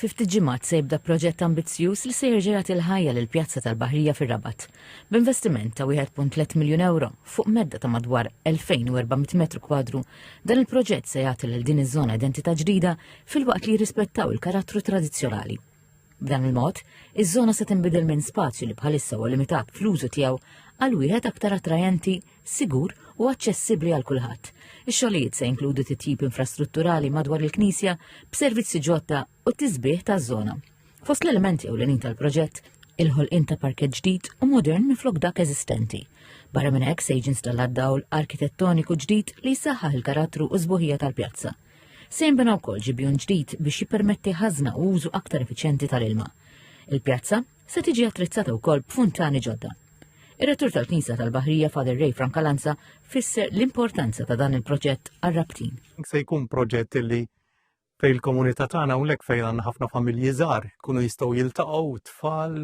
Fi ftit ġimgħat se jibda proġett ambizzjuż li se jerġa' jagħti l-ħajja lill-Pjazza tal-Baħrija fir-Rabat, b'investiment ta' 1.3 miljun ewro fuq medda ta' madwar 2,400 metru kwadru, dan il-proġett se jagħti lil din iż-żona identità ġdida filwaqt li jirrispettaw il-karattru tradizzjonali. B'dan il-mod, iż-żona se tinbidel minn spazju li bħalissa huwa limitat fl-użu tiegħu għal wieħed aktar attrajenti, sigur u aċċessibbli għal kulħadd. Ix-xogħlijiet se jinkludu titjib infrastrutturali madwar il-knisja b'servizzi ġodda u t-tisbih taż-żona. Fost l-elementi ewlenin tal-proġett il-ħolqien ta' parkett ġdid u modern miflok dak eżistenti. Barra minn hekk se jiġi installat dawl arkitettoniku ġdid li jsaħħaħ il-karattru u żbuħija tal-pjazza. Se jinbena wkoll ġibjun ġdid biex jippermetti ħażna u użu aktar effiċjenti tal-ilma. Il-pjazza se tiġi attrezzata wkoll b'funtani ġodda. Ir-rettur tal-Knisja tal-Baħrija Father Ray Frankalanza fisser l-importanza ta' dan il-proġett għar-rabtin. Se jkun proġett li fej il-komunità tagħna hawnhekk fejn għandna ħafna familji żgħar kunu jistgħu jiltaqgħu tfal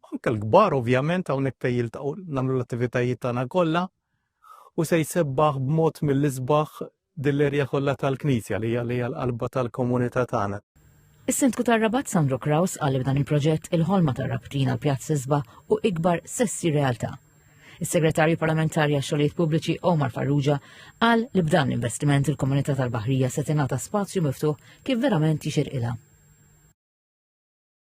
anke l-kbar ovvjament hawnhekk fejn jiltaqgħu nagħmlu l-attivitajiet tagħna kollha u se jsebbaħ b'mod mill-isbaħ Din l-erja kollha tal-Knisja li hija li hija l-qalba tal-komunità tagħna. Is-Sindku tar-Rabat Sandro Kraus qal li b'dan il-proġett il-ħolma tar-Rabtin għal Pjazz Isba u Ikbar se ssir realtà. Is-Segretarju Parlamentari għax-Xogħlijiet Pubbliċi Omar Farrugia qal li b'dan l-investiment il-komunità tal-Baħrija se tingħata spazju miftuħ kif verament jixirqilha.